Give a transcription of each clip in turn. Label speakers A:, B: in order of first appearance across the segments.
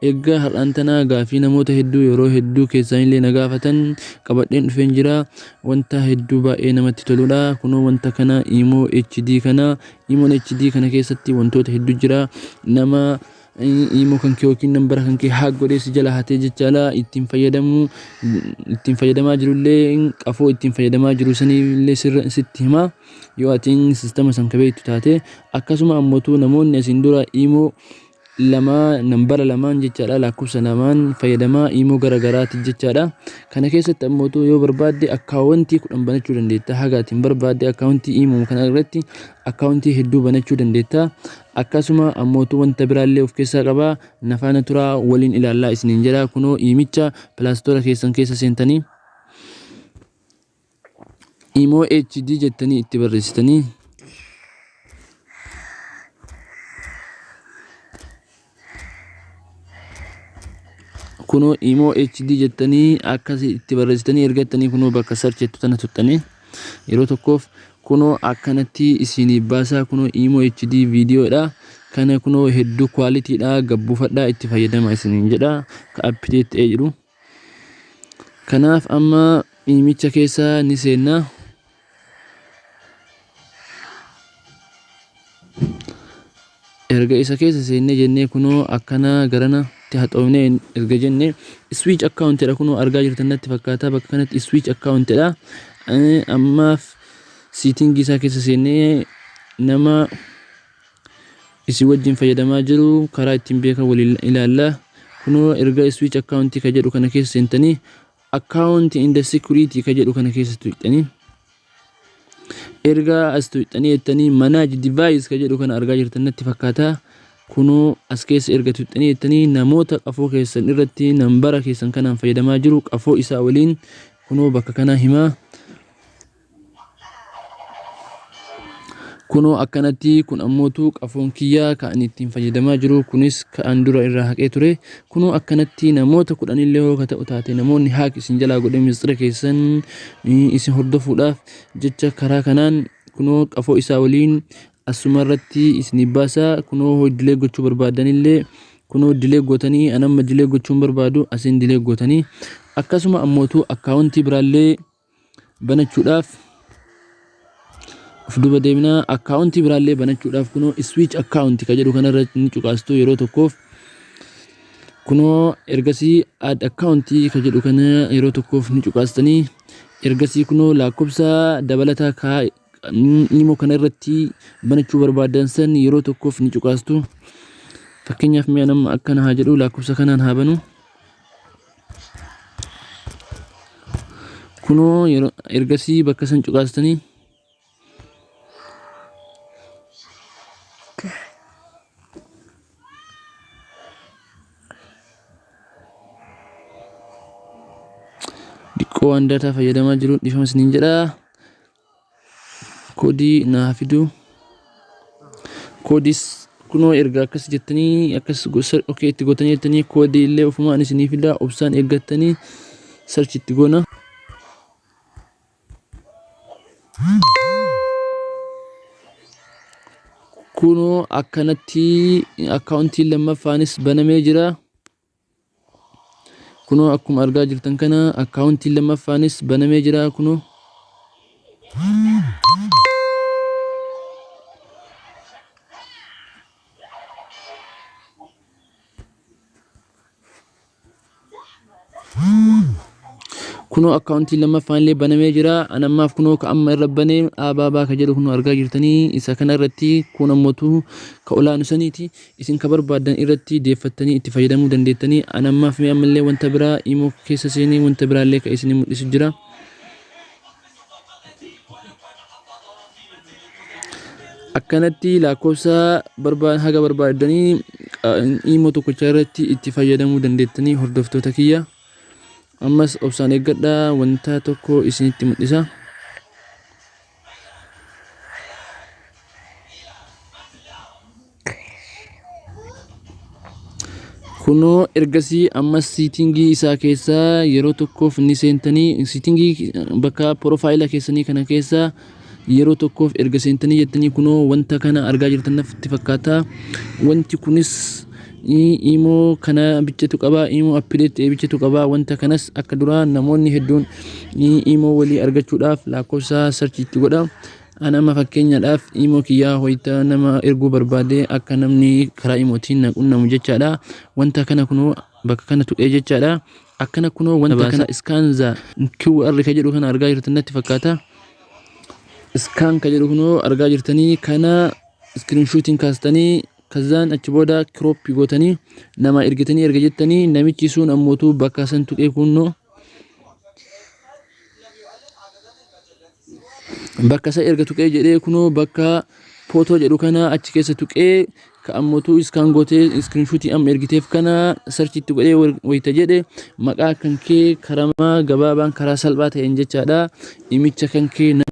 A: Egaa har'aan tana gaaffii namoota hedduu yeroo hedduu keessaanillee na gaafatan qabadheen dhufeen jira. Wanta hedduu baay'ee namatti toludha. Kunoo wanta kana Imo HD kana Imon HD kana keessatti wantoota hedduu jira. Nama Imo kan kee yookiin nambara kan kee haak godhee si jala hatee jechaadha ittiin fayyadamu ittiin fayyadamaa jirullee qafoo ittiin fayyadamaa jiru sanillee sirra sitti hima. Yoo atiin sistema san ka beektu taate akkasuma ammotu namoonni asiin dura Imo 2 nambara lamaan jechaadha laakkofsa lamaan fayyadama iimoo gara garaati jechaadha kana keessatti ammootu yoo barbaadde akkaawwantii kudhan banachuu dandeetta haga ati hin barbaadde akkaawwantii iimoo kana irratti akkaawwantii hedduu banachuu dandeetta akkasuma ammootu wanta biraallee of keessaa qaba nafaana turaa waliin ilaallaa isiniin jedha kunoo iimicha pilaastoora keessan keessa seentanii Imoo HD jettanii itti barreessitanii kunoo imoo HD jettanii akkas itti barreessitanii ergattanii kunoo bakka search jettu tana tuttanii yeroo tokkoof kunoo akkanatti isinii baasaa kunoo imoo HD viidiyoodha kana kunoo hedduu kwaalitiidha gabbuufadhaa itti fayyadama isiniin jedha ka update ta'ee jiru. Kanaaf amma miimicha keessa ni seenna. Erga isa keessa seennee jennee kunoo akkana garanatti haxoofnee erga jenne switch account jedha kunoo argaa jirtan natti fakkaata bakka kanatti switch account jedha. Ammaaf siitingii isaa keessa seennee nama isin wajjin fayyadamaa jiru karaa ittiin beekan waliin ilaalla kunoo erga switch account ka jedhu kana keessa seentanii account in the security ka jedhu kana keessa tuqxanii erga as tuqxanii jettanii manage device ka jedhu kana argaa jirtan natti fakkaata kunoo as keessa erga tuqxanii jettanii namoota qafoo keessan irratti nambara keessan kanaan fayyadamaa jiru qafoo isaa waliin kunoo bakka kanaa himaa kunoo akkanatti kun ammootu qafoon kiyya ka ani ittiin fayyadamaa jiru kunis ka an dura irraa haqee ture kunoo akkanatti namoota kudhanillee hoo ka ta'u taate namoonni haaq isin jalaa godhee misxira keessan eh, isin hordofuudhaaf jecha karaa kanaan kunoo qafoo isaa waliin asuma irratti isiniif baasa kunoo hoo dilee gochuu barbaadanillee kunoo dilee gootanii an amma dilee gochuun barbaadu asin dilee gootanii akkasuma ammootu akkaawuntii biraallee banachuudhaaf of duba deemnaa akkaawuntii biraallee banachuudhaaf kunoo switch account ka jedhu kanarra ni cuqaastu yeroo tokkoof kunoo ergasii add account ka jedhu kana yeroo tokkoof ni cuqaastanii ergasii kunoo lakkoofsa dabalataa kaa imo kana irratti banachuu barbaadan san yeroo tokkoof ni cuqaastu fakkeenyaaf mi'a nama akkana haa jedhu lakkoofsa kanaan haa banu kunoo yeroo ergasii bakka san cuqaastanii diqqoo waan daataa fayyadamaa jiru dhifama isiniin jedha Koodii naa fiduu. Koodis kunoo erga akkas jettanii akkas gosa ok itti gootanii jettanii koodii illee ofumaan isinii fidaa obsaan eeggattanii search itti goona. Kunoo akkanatti akkaawuntiin lammaffaanis banamee jira. kunoo akkuma argaa jirtan kana akkaawuntiin lammaffaanis banamee jira kunoo kunoo akkaawuntiin lammaffaan illee banamee jira an ammaaf kunoo ka amma irra banee aabaa baaka jedhu kunoo argaa jirtanii isa kana irratti kun ammotu ka olaanu saniiti Isin ka barbaaddan irratti deeffattanii itti fayyadamuu dandeettanii an ammaaf mee ammallee wanta biraa imo keessa seenee wanta biraallee ka isinii mul'isu jira. Akkanatti laakkoofsa barbaa haga barbaaddanii imo tokkocha irratti itti fayyadamuu dandeettanii hordoftoota kiyya. Ammas obsaan eeggadhaa wanta tokko isinitti mul'isa. kunoo ergasii ammas siitingii isaa keessaa yeroo tokkoof ni seentanii siitingii bakka piroofaayila keessanii kana keessaa yeroo tokkoof erga seentanii jettanii kunoo wanta kana argaa jirtan natti fakkaata wanti kunis Imo kana bichatu qaba imo appideet ta'e bichatu qaba wanta kanas akka duraa namoonni hedduun imo walii argachuudhaaf lakkoofsa sarchi itti godha an amma fakkeenyaadhaaf imo kiyyaa hoyta nama erguu barbaade akka namni karaa imootiin na qunnamu jechaadha wanta kana kunoo bakka kana tuqee jechaadha akkana kunoo wanta kana iskaanza QR ka jedhu kana argaa jirtan natti fakkaata iskaan ka jedhu kunoo argaa jirtanii kana iskiriinshuutiin kaastanii Kazzaan achi booda crop gootanii namaa ergitanii erga jettanii namichi sun ammootu bakka san tuqee kunnoo bakka isa erga tuqee jedhee kunoo bakka footoo jedhu kana achi keessa tuqee ka ammootu iskaan gootee iskirinshuutii amma ergiteef kana sarchitti godhee wayita jedhe maqaa kan kee karamaa gabaabaan karaa salphaa ta'een jechaadha Imicha kankee nama.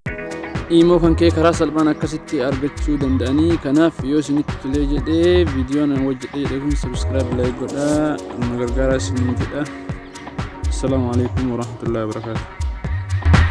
A: Imoo kankee karaa salphaan akkasitti argachuu danda'anii kanaaf yoo isinitti tolee jedhee viidiyoon an hojjedhe jedhe kun subscribe like godha na gargaaraa isiniin jedha assalaamu alaikum warahmatullahi wabarakaatu